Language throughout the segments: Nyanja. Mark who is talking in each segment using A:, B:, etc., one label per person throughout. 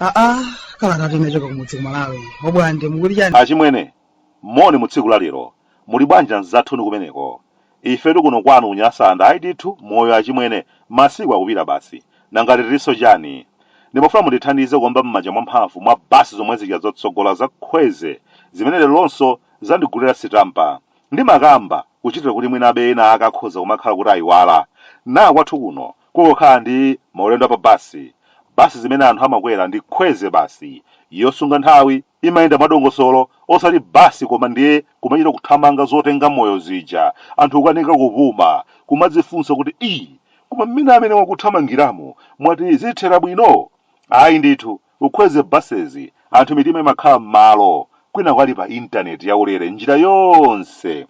A: aa kalata timachoka kumudzi ku Malawi Obwande mukuti chani achimwene
B: moni mu tsiku la lero muli bwanji anzathu inu kumeneko Ifetu kuno kwanu ku Nyasaland ayi ndithu moyo achimwene masiku akupita basi nanga tilinso chani ndimafuna mundithandize kuomba mmanja mwamphamvu mwa basi zomwe zija zotsogola za khweze zimene leronso zandigulira sitampa ndimakamba kuchitira kuti mwinabe ena ake akhoza kumakhala kuti ayiwala naa kwathu kuno kungokhala ndi maulendo a pa bus bus zimene anthu amakwera ndi khweze basi yosunga nthawi imayenda mwadongosolo osati bus koma ndiye kumachita kuthamanga zotenga moyo zija, anthu kukanika kupuma, kumadzifunsa kuti ii, koma mmene amene akuthamangiramu mwati zithera bwino? Ayi ndithu, khweze buses, anthu mitima imakhala mmalo, kwinaku ali pa internet yaulere njira yonse.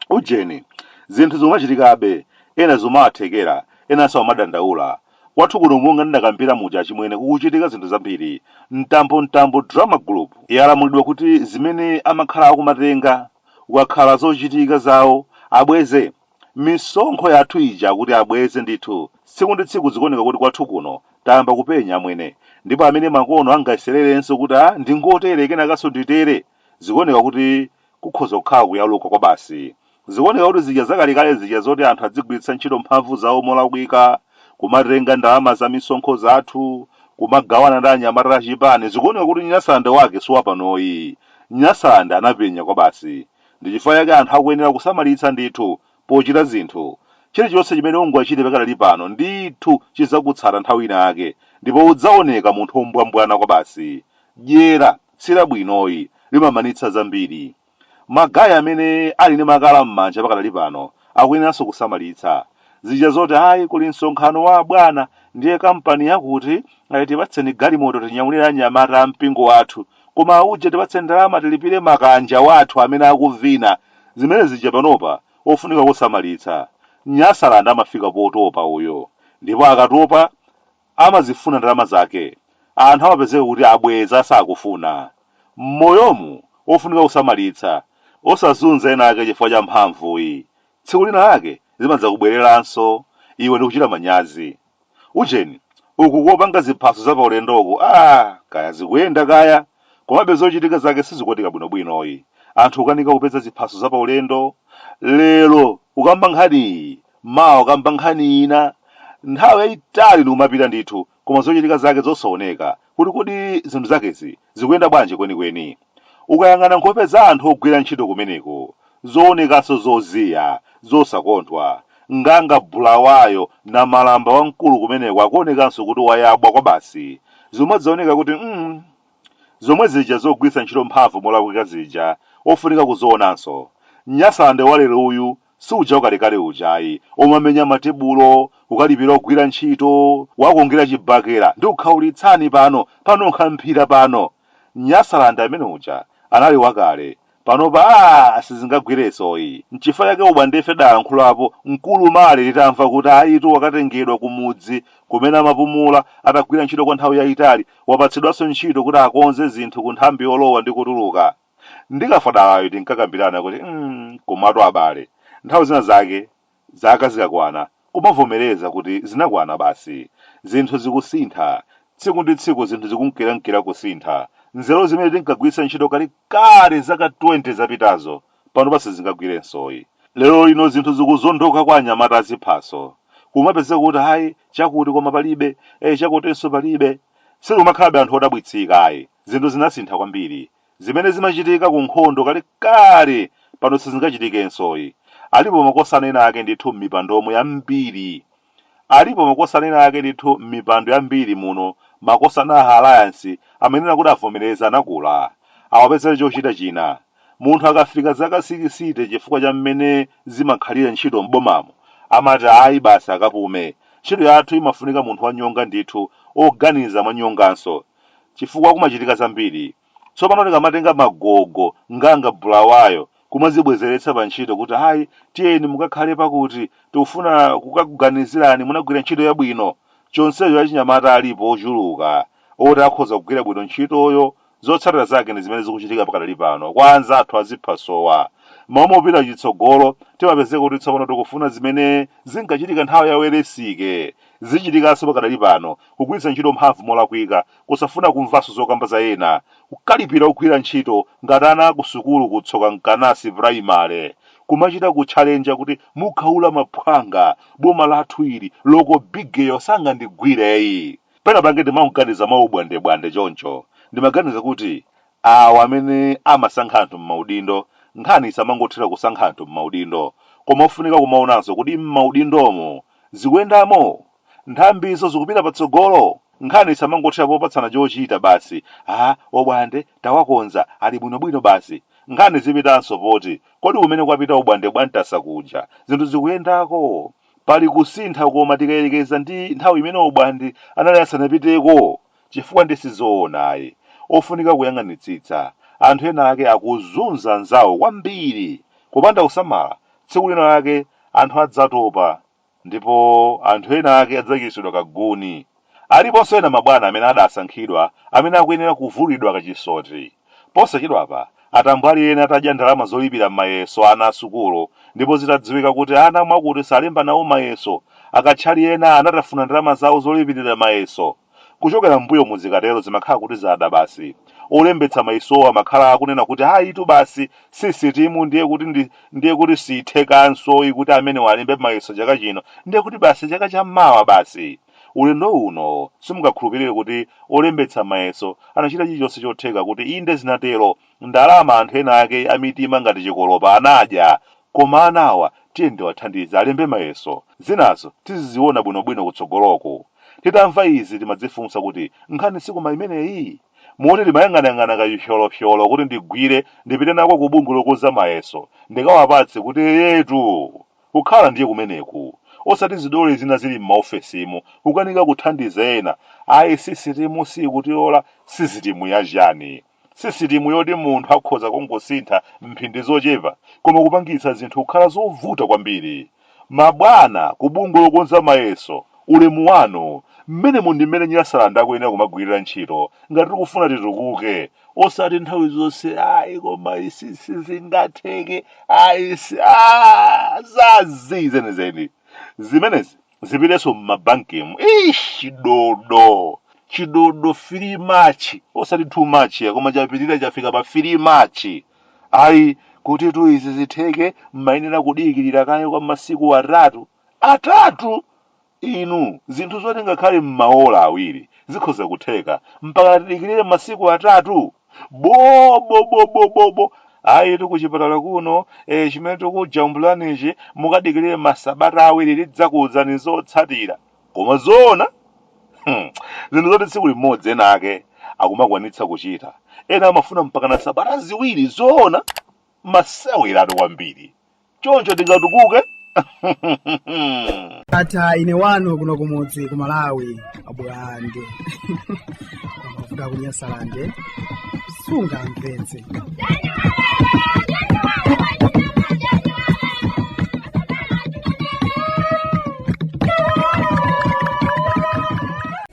B: Ujeni, zinthu zikumachitikabe, ena zikumawathekera, ena samadandaula, Kwathu kuno monga ndinakambira muja achimwene kukuchitika zinthu zambiri. Mtambo Mtambo drama group yalamulidwa kuti zimene amakhala akumatenga ukakhala zochitika zawo abweze. Misonkho yathu ija akuti abweze ndithu. Tsiku ndi tsiku zikuoneka kuti kwathu kuno tayamba kupenya amwene. Ndipo amene makono angayesererenso kuti ah ndingotere kenakanso nditere. Zikuoneka kuti kukhoza kukhala kuyaluka kwabasi. Zikuoneka kuti zija zakalekale zija zoti anthu adzigwiritsa ntchito mphamvu zawo molakwika, kumatenga ndalama za misonkho zathu, kumagawana ndi anyamata achipani, zikuoneka kuti Nyasaland wake si wapanoyi. Nyasaland anapenya kwabasi. Ndi chifukwa chake anthu akuyenera kusamalitsa ndithu pochita zinthu. Chilichonse chimene ungachite pakadali pano ndithu chidzakutsata nthawi ina yake ndipo udzaoneka munthu wombwambwana kwabasi. Dyera! Si labwinoyi limamanitsa zambiri. Ma guy amene ali ndi makala mmanja pakadali pano akuyeneranso kusamalitsa. Zija zoti ayi kuli msonkhano wa abwana ndiye kampani yakuti ayi tipatseni galimoto tinyamulire anyamata a mpingo wathu koma auje tipatseni ndalama tilipire makanja athu amene akuvina zimene zija panopa ofunika kusamalitsa. Nyasaland amafika potopa uyo ndipo akatopa amazifuna ndalama zake anthu amapezeka kuti abweza sakufuna. mmoyomu ofunika kusamalitsa osazunza ena ake chifukwa cha mphamvuyi tsiku lina lake zimadzakubwereranso iwe ndikuchita manyazi. ujeni uku kopanga ziphaso za paulendoku aah kaya zikuyenda kaya komabe zochitika zake sizikuoneka bwinobwinoyi anthu kukanika kupeza ziphaso za paulendo lero kukamba nkhaniyi Mawa wakamba nkhani ina. Nthawi yaitali ndikumapita ndithu, koma zochitika zake zosaoneka, kuti kodi zinthu zakezi zikuyenda bwanji kwenikweni. Ukayang'ana nkhope za anthu ogwira ntchito kumeneko, zoonekanso zoziya, zosakondwa. Nganga Bulawayo, namalamba wamkulu kumeneko akuonekanso kuti wayabwa kwabasi. Zimadzaoneka kuti mm. Zomwe zija zogwiritsa ntchito mphamvu molakwika zija, ofunika kuzionanso. Nyasaland walero uyu Si uja wakalekale uja ayi, womamenya matebulo, kukalipira ogwira ntchito, kuwakungira chibakera ndikukhaulitsani pano, panunkha mphira pano! Nyasaland amene uja anali wakale, panopa aah sizingagwiresoyi. Nchifukwa chake obwandefe tidalankhulapo mkulu Male titamva kuti ayitu wakatengedwa kumudzi kumene amapumula atagwira ntchito kwa nthawi yaitali, wapatsidwanso ntchito kuti akonze zinthu ku nthambi yolowa ndi kutuluka. Ndi Kafadalayu tinkakambirana kuti mm komatu abale, nthawi zina zake zaka zikakwana kumavomereza kuti zinakwana basi. Zinthu zikusintha, tsiku ndi tsiku zinthu zikunkirankira kusintha. Nzeru zimene tinkagwiritsa ntchito kalekale zaka 20 zapitazo panopa sizingagwirensoyi. Lerolino zinthu zikuzondoka kwa anyamata aziphaso. Kumapezeka kuti ayi, chakuti koma palibe, eh chakutinso palibe. Sitikumakhalabe anthu odabwitsika ayi. Zinthu zinasintha kwambiri. Zimene zimachitika ku nkhondo kalekale pano sizingachitikensoyi. Alipo makosana ena ake ndithu m'mipandomu yambiri. Alipo makosana ena ake ndithu m'mipando yambiri muno, makosana a Alliance amayenera kuti avomereze anakula, awapezere chochita china. Munthu akafika zaka sikisite chifukwa cha mmene zimakhalira ntchito m'bomamu, amati ayi basi akapume. Ntchito yathu imafunika munthu wanyonga ndithu, oganiza mwanyonganso. chifukwa kumachitika zambiri. Tsopano tikamatenga magogo nganga bulawayo kumazibwezeretsa pa ntchito kuti ayi tiyeni mukakhale pakuti tikufuna kukakuganizirani munagwira ntchito yabwino chonsecho achinyamata alipo ochuluka oti akhoza kugwira bwino ntchitoyo zotsatira zake ndi zimene zikuchitika pakadali pano kwa anzathu aziphasowa m'malo mopita chitsogolo timapezeka kuti tsopano tikufuna zimene zinkachitika nthawi ya Welensky Zichitikanso pakadali pano, kugwiritsa ntchito mphamvu molakwika, kusafuna kumvanso zokamba za ena, kukalipira ogwira ntchito ngati ana a kusukulu ku Tsoka Nkanasi primary, kumachita kutchalenja kuti mukhaula maphwanga, boma lathu ili, loko bigeyo sangandigwireyi. Pena pake ndimaganiza mwaubwandebwande choncho, ndimaganiza kuti Awa amene amasankha anthu m'maudindo, nkhani isamangothera kusankha anthu m'maudindo, koma ofunika kumaonanso kuti m'maudindomo zikuyendamo? Nthambizo zikupita patsogolo? Nkhani isamangothera popatsana chochita basi, ha, obwande, tawakonza, ali bwinobwino basi. Nkhani zipitanso poti, kodi kumene kwapita obwande bwa Ntasa kuja, zinthu zikuyendako? Pali kusintha koma tikayerekeza ndi nthawi imene obwande anali asanapiteko? chifukwa ndi sizoona ayi, ofunika kuyang'anitsitsa, anthu ena ake akuzunza anzawo kwambiri, kupanda kusamala tsiku lina lake anthu adzatopa ndipo anthu ena ake adzachititsidwa ka guni, aliponso ena mabwana amene adasankhidwa amene akuyenera kuvulidwa ka chisoti. Posachedwapa, atambwali ena atadya ndalama zolipira mayeso a ana a sukulu ndipo zitadziwika kuti ana mwakuti salemba nawo mayeso, akatchali ena anatafuna ndalama zawo zolipirira mayeso. Kuchokera m'mbuyomu zikatero zimakhala kuti zada basi. Olembetsa mayesowo amakhala akunena kuti ayitu basi sisitimu ndiye kuti siithekanso kuti amenewa alembe mayeso chaka chino ndiye kuti basi chaka cha mawa basi. Ulendo uno, simungakhulupirire kuti olembetsa mayeso anachita chilichonse chotheka kuti inde zinatero, ndalama anthu ena ake amitima ngati chikolopa anadya! Koma ana awa tiyeni tiwathandize alembe mayeso, zinazo tiziziona bwinobwino kutsogoloku. Titamva izi timadzifunsa kuti nkhani sikoma imeneyi? Moti timayang'anayang'ana kachipyolopyolo kuti ndigwire ndipite nako ku bungwe lokonza mayeso ndikawapatse kuti eyetu! Kukhala ndiye kumeneku, osati zidole zina zili m'maofesimu, kukanika kuthandiza ena, ayi sisitimu siikutilola, sisitimu yachani? Sisitimu yoti munthu akhoza kungosintha m'mphindi zochepa koma kupangitsa zinthu kukhala zovuta kwambiri. Mabwana ku bungwe lokonza mayeso, ulemu wanu, m'menemu ndi m'mene Nyasaland akuyenera kumagwirira ntchito ngati tikufuna titukuke. osati nthawi zonse ayi koma izi sizingatheke ayi si ah, zazi zenizeni zimenezi zipitenso mmabankemu ish chidodo chidodo 3 much osati 2 much koma chapitirira chafika pa 3 much ayi kutitu izi zitheke mmayenera kudikirira kaye kwa masiku atatu atatu Inu, zinthu zoti ngakhale m'maola awiri zikhoza kutheka, mpakana tidikirire masiku atatu? Bo, bo, bo, bo, bo, bo! Ayitu kuchipatala kuno, eh, chimene tikujambulanichi, mukadikirire masabata awiri tidzakuuzani zotsatira. Koma zoona? Hmm, zinthu zoti tsiku limodzi ena ake akumakwanitsa kuchita, ena amafuna mpakana sabata ziwiri, zoona? Maseweratu kwambiri. choncho tingatukuke
A: ata ine wanu kuno kumudzi ku malawi abwande kuda kunyasalande sunga mpenzi